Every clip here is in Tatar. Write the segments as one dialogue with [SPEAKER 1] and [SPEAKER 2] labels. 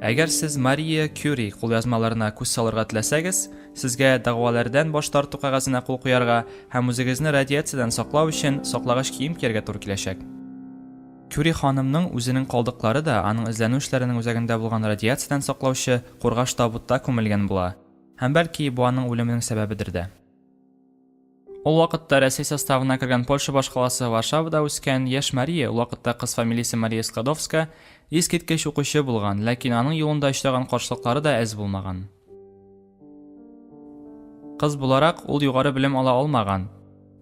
[SPEAKER 1] Әгәр сез Мария Кюри кулъязмаларына күз салырга теләсәгез, сезгә дәгъвалардан баш тарту кәгазенә кул куярга һәм үзегезне радиациядән саклау өчен саклагыч кием кияргә туры киләчәк. Кюри ханымның үзенең калдыклары да аның эзләнү эшләренең үзәгендә булган радиациядән саклаучы кургаш табутта күмелгән була. Һәм бәлки бу аның үлеменең сәбәбедер дә. Ул вакытта Рәсәй составына кергән Польша башкаласы Варшавада үскән яшь Мария, ул вакытта кыз фамилиясе Мария Складовска, искиткеч укучы булган, ләкин аның юлында очраган каршылыклары да әз булмаган. Кыз буларак, ул югары белем ала алмаган.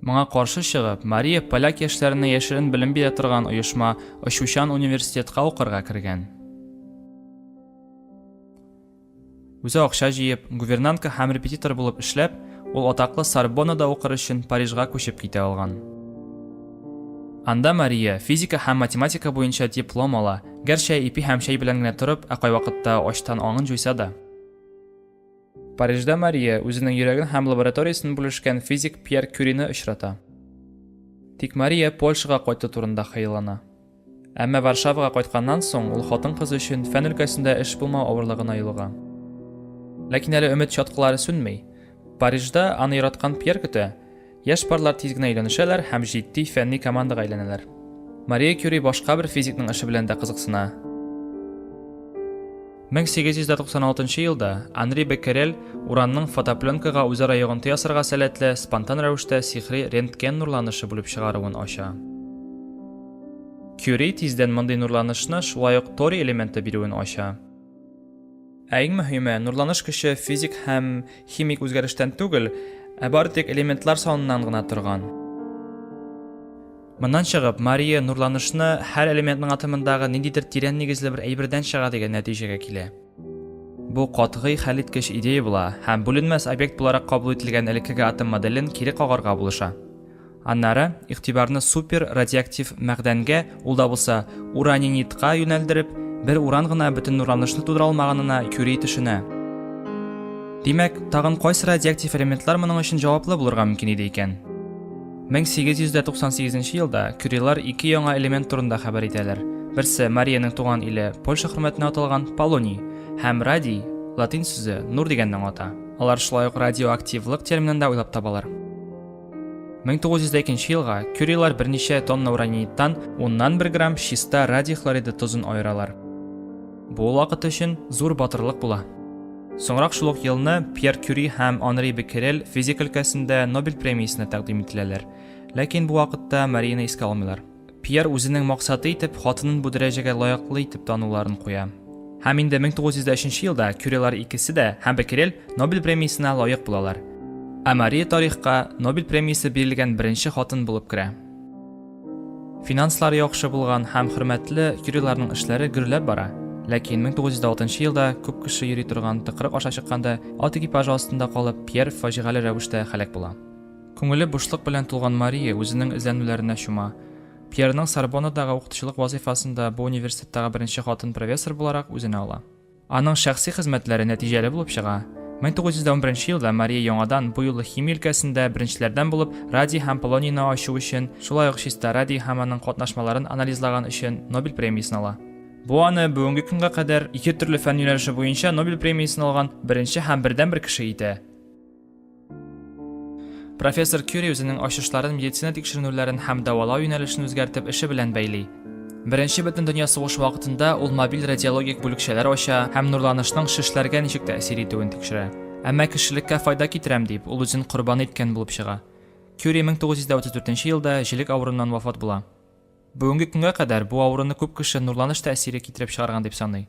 [SPEAKER 1] Моңа каршы чыгып, Мария поляк яшьләренә яшерен белем бирә торган оешма Очучан университетка укырга кергән. Үзе акча җыеп, гувернантка һәм репетитор булып эшләп, ул атаклы Сорбоннада укыр өчен Парижга күчеп китә алган. Анда Мария физика һәм математика буенча диплом ала, гәрчә ипи һәм чәй белән генә торып, ә кайвакытта ачтан аңын җуйса да. Парижда Мария үзенең йөрәген һәм лабораториясен бүлешкән физик Пьер Кюрины очрата. Тик Мария Польшага кайту турында хыяллана. Әмма Варшавага кайтканнан соң ул хатын-кыз өчен фән өлкәсендә эш булмау авырлыгына юлыга. Ләкин әле өмет чаткылары сүнми. Парижда аны яраткан Пьер көтә. Яшь парлар тиз генә өйләнешәләр һәм җитди фәнни командага әйләнәләр. Мария Кюри башка бер физикның эше белән дә кызыксына. 1896 елда Анри Беккерель уранның фотопленкага үзара йогынты ясарга сәләтле спонтан рәвештә сихри рентген нурланышы бүлеп чыгаруын ача. Кюри тиздән мондый нурланышны шулай ук торий элементы бирүен ача. Ә иң мөһиме, нурланыш көче физик һәм химик үзгәрештән түгел, ә бары тик элементлар саныннан гына торган. Моннан чыгып, Мария нурланышны һәр элементның атомындагы ниндидер тирән нигезле бер әйбердән чыга дигән нәтиҗәгә килә. Бу катгый хәлиткеч идея була һәм бүленмәс объект буларак кабул ителгән элеккеге атом моделен кире кагарга булыша. Аннары, игътибарны супер радиоактив мәгъдәнгә, ул да булса, уранинитка юнәлдереп, бер уран гына бөтен нурланышны тудыра алмаганына Кюри төшенә. Димәк, тагын кайсы радиоактив элементлар моның өчен җаваплы булырга мөмкин иде икән? 1898 елда кюрилар ике яңа элемент турында хәбәр итәләр. Берсе Мариянең туган иле Польша хөрмәтенә аталган Полоний һәм радий, латин сүзе нур дигәнне аңлата. Алар шулай ук радиоактивлык терминын да уйлап табалар. 1902 елга кюрилар берничә тонна ураниттан уннан бер грамм чиста радий хлориды тозын аералар. Бу ул вакыт өчен зур батырлык була. Соңрак шул ук елны Пьер Кюри һәм Анри Беккерель физик өлкәсендә Нобель премиясенә тәкъдим ителәләр. Ләкин бу вакытта Марияны искә алмыйлар. Пьер үзенең максаты итеп хатынын бу дәрәҗәгә лаеклы итеп тануларын куя. Һәм инде 1903 елда Кюрилар икесе дә һәм Беккерель Нобель премиясенә лаек булалар. Ә Мария тарихка Нобель премиясе бирелгән беренче хатын булып керә. Финанслар яхшы булган һәм хөрмәтле юриларның эшләре гөрләп бара. Ләкин 1906 елда күп кеше йөри торган тыкрык аша чыкканда ат экипажы астында калып Пьер фаҗигале рәвештә һәлак була. Күңеле бушлык белән тулган Мария үзенең эзләнүләренә чума. Пьерның Сорбоннадагы укытучылык вазыйфасында бу университеттагы беренче хатын профессор буларак үзенә ала. Аның шәхси хезмәтләре нәтиҗәле булып чыга. 1911 елда Мария яңадан бу юлы химия өлкәсендә беренчеләрдән булып радий һәм полонийны ачу өчен, шулай ук чиста радий һәм аның катнашмаларын анализлаган өчен Нобель премиясен ала. Бу аны бүгенге көнгә кадәр ике төрле фән юнәлеше буенча Нобель премиясен алган беренче һәм бердәнбер кеше итә. Профессор Кюри үзенең ачышларын медицина тикшеренүләрен һәм дәвалау юнәлешен үзгәртеп эше белән бәйли. Беренче бөтен дөнья сугыш вакытында ул мобиль радиологик бүлекчәләр ача һәм нурланышның шешләргә ничек тәэсир итүен тикшерә. Әмма кешелеккә файда китерәм дип, ул үзен корбан иткән булып чыга. Кюри 1934 елда җилек авыруыннан вафат була. Бүгенге көнгә кадәр бу авыруны күп кеше нурланыш тәэсире китереп чыгарган дип саный.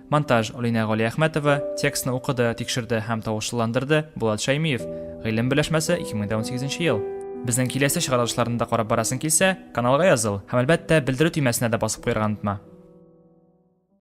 [SPEAKER 1] Монтаж, Алинә Галиәхмәтова, текстны укыды, тикшерде һәм тавышлыландырды, Булат Шәймиев. Гыйлем беләшмәсе, 2018 ел. Безнең киләсе чыгарылышларны да карап барасың килсә, каналга языл һәм, әлбәттә, белдерү төймәсенә дә басып куярга онытма.